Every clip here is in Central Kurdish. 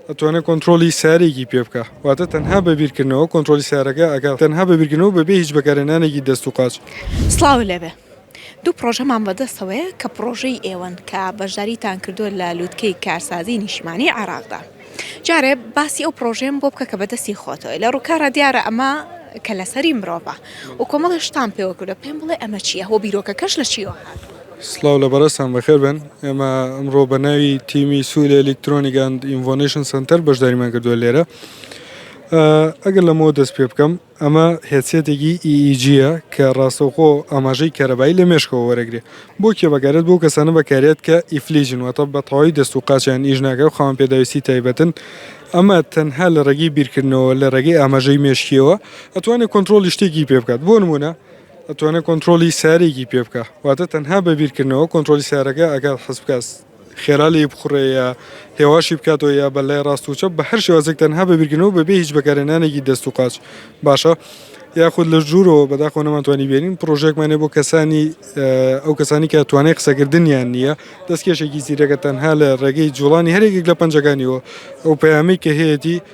ئەتوانێت کۆنترۆڵی سیارەیەکی پێ بکا واتە تەنها بە بیرکردنەوە کۆنترۆڵی سیارەکە ئەکا تەنها بە بیرکردنەوە بەبێ هیچ بەکارهێنانێکی دەست و قاچ. سڵاو لێبێ دوو پڕۆژەمان بەدەستەوەیە کە پڕۆژەی ئێوەن کە بەشداریتان کردووە لە لوتکەی کارسازی نیشتمانی عێراقدا جارێ باسی ئەو پڕۆژەیەم بۆ بکە کە بەدەستی خۆتەوەی لە ڕووکارا دیارە ئەمە کەلەسەری مرۆڤە و کۆمەڵێ شتان پێوە کردوە پێم بڵێ ئەمە چییە هۆ بیرۆکەکەش لە چیوە هاتووە. سڵاو لە بەڕێزتان بەخێر بێن ئێمە ئەمڕۆ بە ناوی تیمی سوود ئەلیکترۆنیک ئەند ئینڤۆنیشن سەنتەر بەشداریمان کردووە لێرە ئەگەر لەمەوە دەست پێ بکەم ئەمە هێچێتێکی ئیجیە کە ڕاستەوخۆ ئاماژەی کەرەبایی لە مێشکەوە وەرەگرێ بۆ کێبەکارێت بۆ کەسانە بەکارێت کە ئیفلیجن واتە بە تەواوی دەست و قاچیان ئیش ناکە و خاوەن پێداویستی تایبەتن ئەمە تەنها لە ڕێگەی بیرکردنەوە لە ڕێگەی ئاماژەی مێشکیەوە ئەتوانێت کۆنتترۆلی شتێکی پێ بکات بۆ نمونە ئەتوانێ کۆنترۆڵی سیارەیەکی پێ بکا واتە تەنها بە بیرکردنەوە کۆنترۆلی سیارەکە ئەگات حەز بکات خێرا لێی بخوڕێ یا هێواشی بکاتەوە یا بە لای ڕاست و چەپ بە هەر شێوازێک تەنها بە بیرکردنەوە بەبێ هیچ بەکارهێنانێکی دەست و قاچ باشە یاخود لە ژوورەوە بەداخۆ نەمانتوانی بێنین پرۆژێکمانێ بۆ کەسانی ئەو کەسانی کە توانای قسەکردنیان نییە دەستکێشێکی زیرەکە تەنها لە ڕێگەی جوڵانی هەرێکێک لە پەنجەکانیەوە ئەو پەیامی کە هەیەی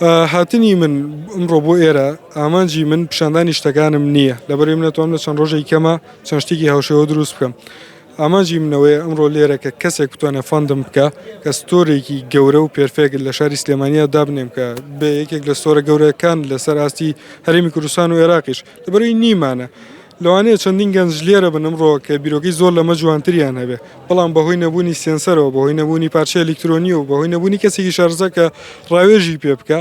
هاتنی من ئمڕۆ بۆ ئێرە ئامانجی من پیشاندانی شتەکانم نییە لەبەری منەتوام لە چەند ڕۆژێک کەمە چەند شتێکی هاوشێوە دروست بکەم ئامانجی منەوەی ئەمڕۆ لێرە کە کەسێک بتوانێت فەندم بکە کە ستۆرێکی گەورە و پێرفێک لە شاری سلێمانیا دابنێم کە بێ یەکێک لە ستۆرە گەورەکان لەسەر ئاستی هەرمی کوردستان و عێراقیش لەبەروی نیمانە لەوانەیە چەندین گەنج لێرە بنم ڕۆکە بیرۆکی زۆر لەمە جوانتریان هەبێ بەڵام بەهۆی نەبوونی سێنسەرەوە، بەهۆی نەبوونی پارچەی ئەلیکترۆنی و بەهۆی نەبوونی کەسێکی شارەزا کە ڕاوێژی پێ بکا،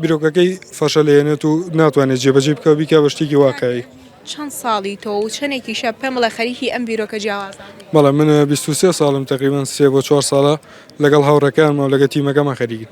بیرۆکەکەی فەشەلێنێت و ناتوانێت جێبەجێی بکا و بیکا بە شتێکی واقعی. چەند ساڵی تۆ و چەندێکیشە پێم بڵێ خەریکی ئەم بیرۆکە جیاوازانە بووی؟ بەڵێ من بیست و سێ ساڵم تەقریبەن سێ بۆ چوار ساڵە لەگەڵ هاوڕێکانمە و لەگە تیمەکەمان خەریکین.